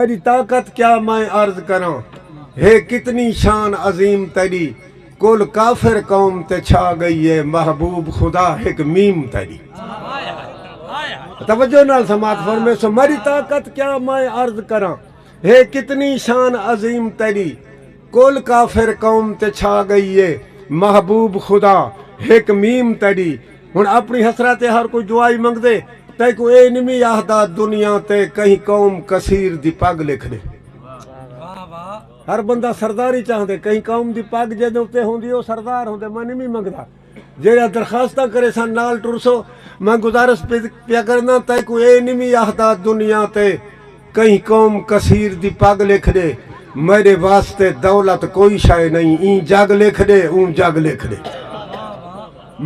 تیݙی طاقت کیا میں عرض کراں ہے کتنی شان عظیم تیݙی کل کافر قوم تے چھا ڳئی ہے محبوب خدا ہک میم تیݙی توجہ نال سماعت فرمیسو میݙی طاقت کیا میں عرض کراں ہے کتنی شان عظیم تیݙی کل کافر قوم تے چھا گئی اے محبوب خدا ہک میم تیڈی ہن اپنی حسرت تے ہر کوئی دعائی منگدے تیکوں اے نمی آہدا دنیا تے کہیں قوم کثیر دی پگ لکھ ڈے ہر بندہ سرداری چاہندے کہیں قوم دی پگ جیندے اتے ہوندی او سردار ہوندے میں نمی منگدا جیڑھیاں درخواستاں کریساں نال ٹرسو میں گزارش پیا کرینداں تیکوں اے نی وی آہدا دنیا تے کہیں قوم کثیر دی پگ لکھ ڈے میڈے واسطے دولت کوئی شئے نئیں ایں جگ لکھ ڈے اوں جگ لکھ ڈے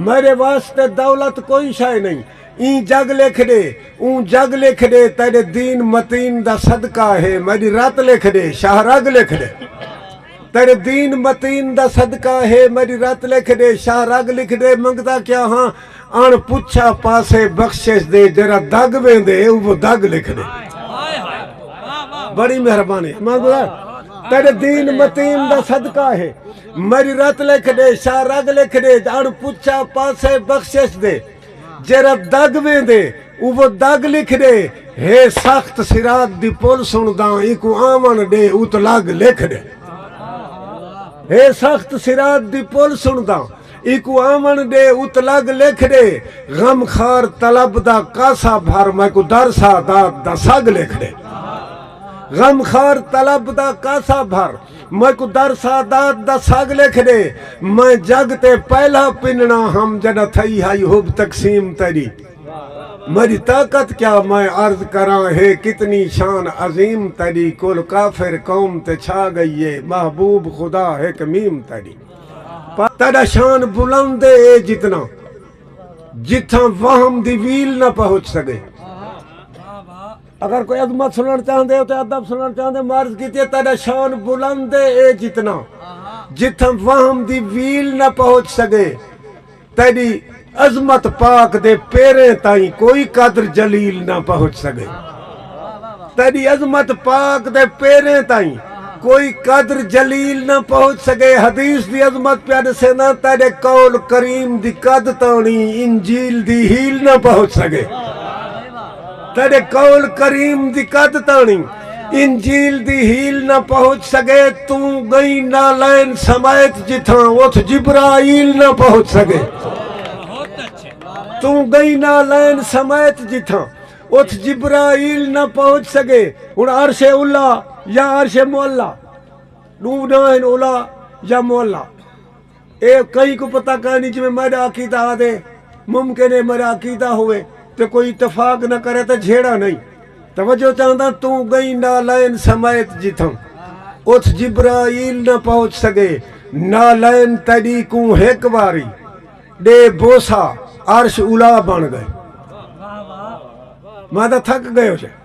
میڈے واسطے دولت کوئی شئے نئیں ایں جگ لکھ ڈے اوں جگ لکھ ڈے تیڈے دین متین دا صدقہ ہے میڈی رت لکھ ڈے شاہ رگ لکھ ڈے۔ تیرے دین متین دا صدقہ ہے میڈی رت لکھ ڈے شاہ رگ لکھ ڈے منگدا کیا ہاں اݨ پچھا پاسے بخشش دے جیڑھا دگ ویندے اوہ دگ لکھ ڈے بڑی مہربانی تیرے دین متین دا صدقہ ہے میڈی رت لکھ ڈے شاہ رگ لکھ ڈے اݨ پچھا پاسے بخشش دے جیرھا دگ ویندے اوہ دگ لکھ ݙے ہے سخت صراط دی پل سݨداں اینکوں آوݨ ݙے ات لگ لکھ ݙے ہے سخت صراط دی پل سݨداں اینکوں آوݨ ݙے ات لگ لکھ ݙے غم خار طلب دا کاسہ بھر میکوں در سادات دا سڳ لکھ ݙے غم خار طلب دا کاسہ بھر میکوں در سادات دا سڳ لکھ ݙے میں جڳ تے پہلا پنݨاں ہم جݙاں تھئی ہائی حب تقسیم تیݙی میݙی طاقت کیا میں عرض کراں ہے کتنی شان عظیم تیݙی کل کافر قوم تے چھا ڳئی ہے محبوب خدا ہک میم تیݙی پر تیݙا شان بلند ہے اے جتنا جتھاں وہم دی ویل نہ پہچ سڳے۔ اگر کوئی عظمت سنڑن چاہندے ہو تے ادب سنڑن چاہندے معرض کیتی ہے تیڈا شان بلند ہے اے جتنا جتھاں وہم دی ویل نہ پہنچ سگے تیڈی عظمت پاک دے پیریں تائیں کوئی قدر جلیل نہ پہنچ سگے تیڈی عظمت پاک دے پیریں تائیں کوئی قدر جلیل نہ پہنچ سگے حدیث دی عظمت پیا ڈسیندا تیڈے قول کریم دی قد تانی انجیل دی ہیل نہ پہنچ سگے تیڈے قول کریم دی کد تاݨی انجیل دی ہیل نہ پہچ سگے توں گئیں نالین سمیت جتھاں اتھ جبرائیل نہ پہچ سگے توں گئیں نالین سمیت جتھاں اتھ جبرائیل نہ پہچ سگے ہن عرش علی یا عرش معلی ݙو ناں ہن علی یا معلی اے کہیں کوں پتہ کائنی جی میں میڈا عقیدہ آدھے ممکن ہے میڈا عقیدہ ہوئے تو کوئی اتفاق نہ کرے تو جھیڑا نہیں توجہ چاہندہ تو گئی نالین سمیت جتھاں اتھ جبرائیل نہ پہنچ سکے نالین تیڈی کوں ہک واری ڈے بوسا عرش الا بن گئے میں تھک گئے ہو جائے